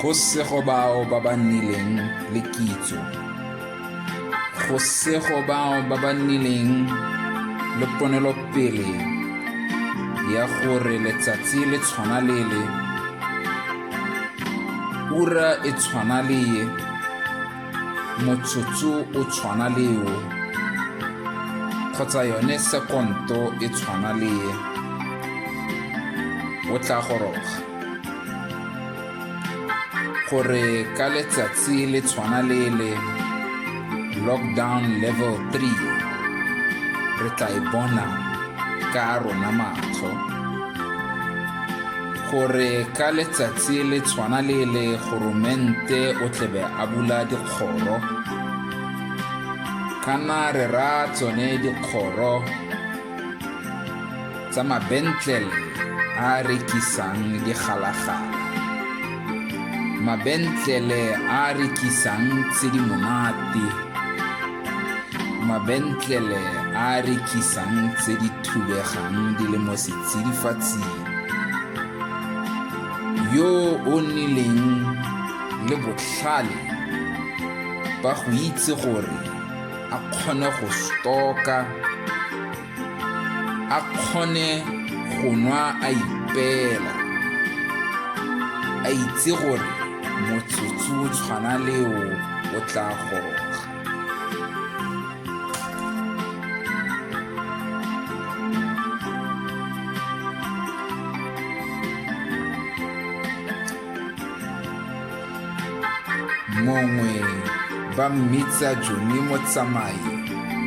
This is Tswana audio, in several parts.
go sego bao ba ba nnileng le kitso go sego bao ba ba nnileng le ponelopele ya gore letsatsi le tshwana lele ura e tshwana leye motsotso o tshwana le o kgotsa yone sekonto e tshwana le e o tla goroga gore ka letsatsi le tshwana le le lockdown level 3 re tla e bona ka rona matlho gore ka letsatsi le tshwana le le goromente o tlebe a bula dikgoro kana re ra tsone dikgoro tsa mabentlele a rekisang digalagala mabentlele a rekisang tse di monate mabentlele a a rekisang tse di thubegang di le mo setsidifatsing yo o nnileng le botlhale ba go itse gore a kgone go stoka a kgone go nwa a ipela a itse gore motsotso o tshwana leo o tla goroga mongwe ba mmitsa jone motsamai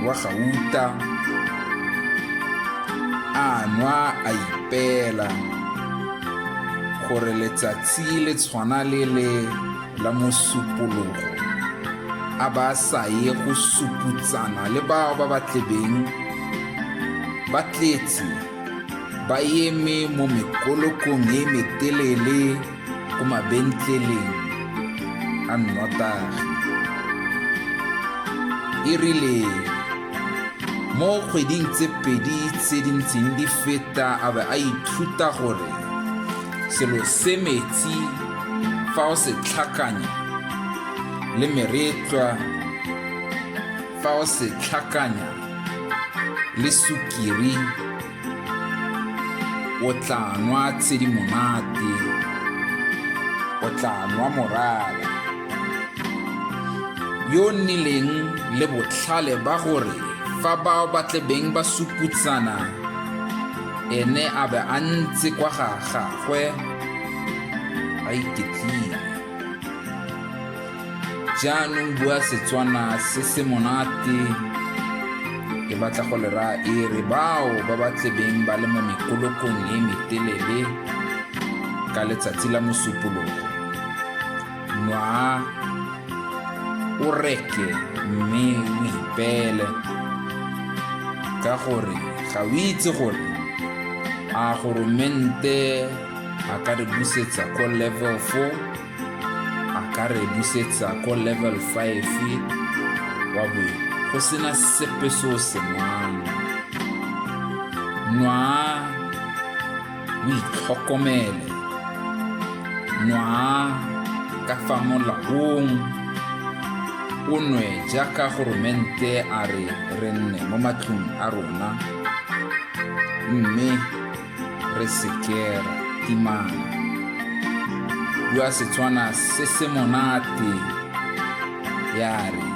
wa gauta a nwa a ipeela gore letsatsi le tshwana le le la mosupologo a ba sa ye go suputsana le bao ba ba tlebeng ba tletse ba eme mo mekolokong e metelele ko mabentleleng a nnotagi e rile mo kgweding tse pedi tse di ntseng di feta a be a ithuta gore selo se metsi fa o se tlhakanya le meretlwa fa o se tlhakanya le sukiri o tla nwa tshedimonate o tla nwa morara yo nnileng le botlhale ba gore fa bao ba tlebeng ba suputsana ene a be a ntse kwa ga gagwe a iketlile jaanong bua setswana se se monate ke batla go lera e re bao ba ba tlebeng ba le mo mekolokong e metelele ka letsatsi la mosupologo nwa o reke mme o ipeele ka gore ga o itse gore a goromente a ka re busetsa ko level 4 a ka re busetsa ko level 5 wa bo go sena sepe se o se nwang nwa o itlhokomele nwa ka fa molaong o nwe jaaka goromente a re re nne mo matlong a rona mme re sekera timana bua setswana se se monate ya re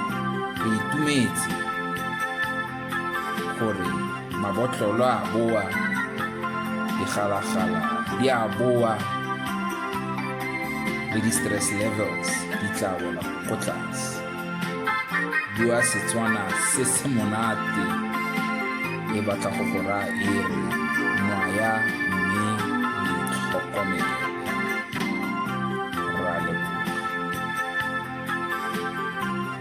re itumetse gore mabotlolo a boa digalagala di a boa le di-stress levels di tla bola ko tlase bua setswana se se monate e batla go go raya e re nwaya mme itlhokomele